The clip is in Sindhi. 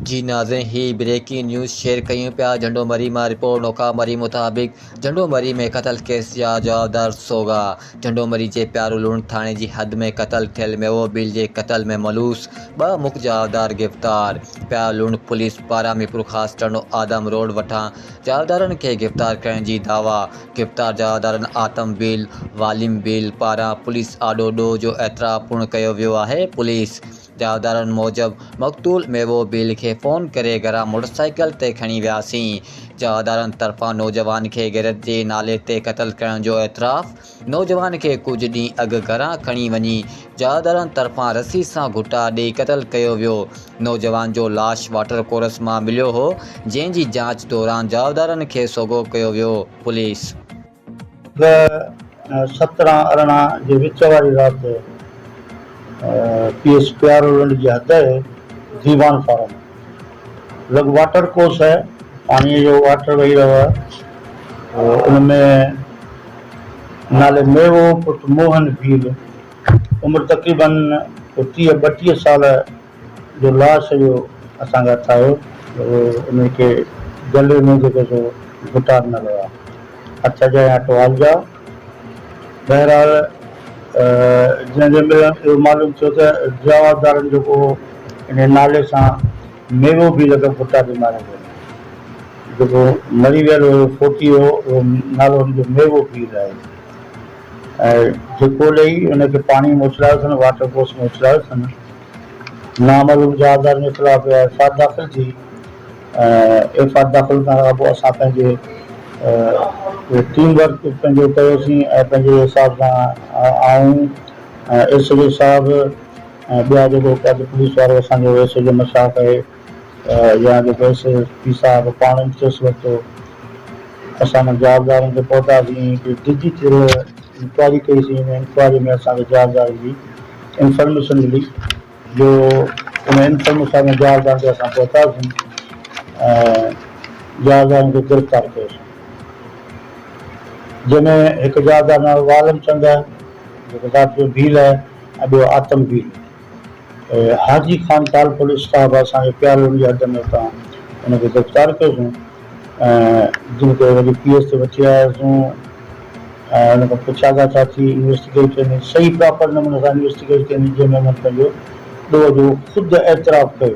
جي ناظرين هي بريڪنگ نيوز شيئر ڪيون پيا جهنڊو مري مان رپورٽ نوڪا مري مطابق جهنڊو مري ۾ قتل ڪيس جا جوابدار سوگا جهنڊو مري جي پيارو لوڻ ٿاڻي جي حد ۾ قتل ٿيل ميوو ڀيل جي قتل ۾ ملوث ٻه مک جوابدار گرفتار پيارو لوڻ پوليس پاران ميرپورخاص ٽنڊو آدم روڊ وٺان جوابدارن کي گرفتار ڪرڻ جي دعويٰ گرفتار جوابدارن آتم ڀيل واليم ڀيل پاران پوليس آڏو ڏوهه جو اعتراف پڻ ڪيو ويو آهي پوليس چوڌارن موجب مقتول ميوو بيل کي فون ڪري گهران موٽرسائيڪل تي کڻي وياسين، چوڌارن طرفان نوجوان کي غيرت جي نالي تي قتل ڪرڻ جو اعتراف، نوجوان کي ڪجهه ڏينهن اڳ گهران کڻي وڃي چوڌارن طرفان رسي سان گهٽا ڏئي قتل ڪيو ويو، نوجوان جو لاش واٽر ڪورس مان مليو هو، جنهن جي جاچ دوران چوڌارن کي سوگهو ڪيو ويو، پوليس. به سترهن ارڙهن جي وچ واري رات پي ايس پيارولنڊ جي حد اهي ديوان فارم لڳ واٽر ڪورس اهي پاڻيء جو واٽر وهي رهيو اهي او ان ۾ نالي ميوو پٽ موهن ڀيل عمر تقريبن ٽيهه ٻٽيهه سال جو لاش جو اسان کي هٿ آيو ته اهو انهي کي جليو نه جيڪو سو گهٽا ڏنل هئا. هٿ جا يا ٽوال جا. بهرحال جنهن جي ملڻ اهو معلوم ٿيو ته جوابدارن جو ڪو انهي نالي سان ميوو بي لڳ گهٽا ڏنا هئائين. جيڪو مري ويل هيو فوتي هو اهو نالو هن جو ميوو پير آهي. ۽ ڌڪو ڏئي انهي کي پاڻي ۾ اڇلايو اٿن واٽر ڪورس ۾ اڇلايو اٿن. نامعلوم جهازدارن جي خلاف ايف آء آر داخل ٿي ۽ ايف آء آر داخل ڪرڻ کان پوء اسان پنهنجي ٽيم ورڪ پنهنجو ڪيوسين ۽ پنهنجي حساب سان آئون ۽ ايس ايڇ او صاحب ۽ ٻيا جيڪو ڪجهه پوليس وارو اسان جو ايس ايڇ او مشاهه ڪري يا جو پيسي پير صاحب پاڻ ئي چوس ورتو. اسان انهن جوابدارن تي پهتاسين، ڪي ڊجي ٿيل انڪوائري ڪئي سين، ان انڪوائري ۾ اسان کي جوابدارن جي انفرميشن ملي جو ان انفرميشا ۾ جوابدارن تي اسان پهتاسين ۽ جوابدارن کي گرفتار ڪيوسين. جنهن ۾ هڪ جوابدار نالو عالم چند آهي، جيڪو ذات جو ڀيل آهي ۽ ٻيو آتم ڀيل. حاجي خان ٽالپري صاحب اسان کي پيارو هجڻ جي حد ۾ اتان ان کي گرفتار ڪيوسون ۽ جن کي وري پي ايس تي وٺي آياسون ۽ ان کان پڇا ڳا ڇا ٿي انويسٽيگيٽ يعنيصحيح پراپر نموني سان انويسٽيگيٽ ڪئي جنهن ۾ انهن پنهنجو ڏوهه جو خود اعتراف ڪيو.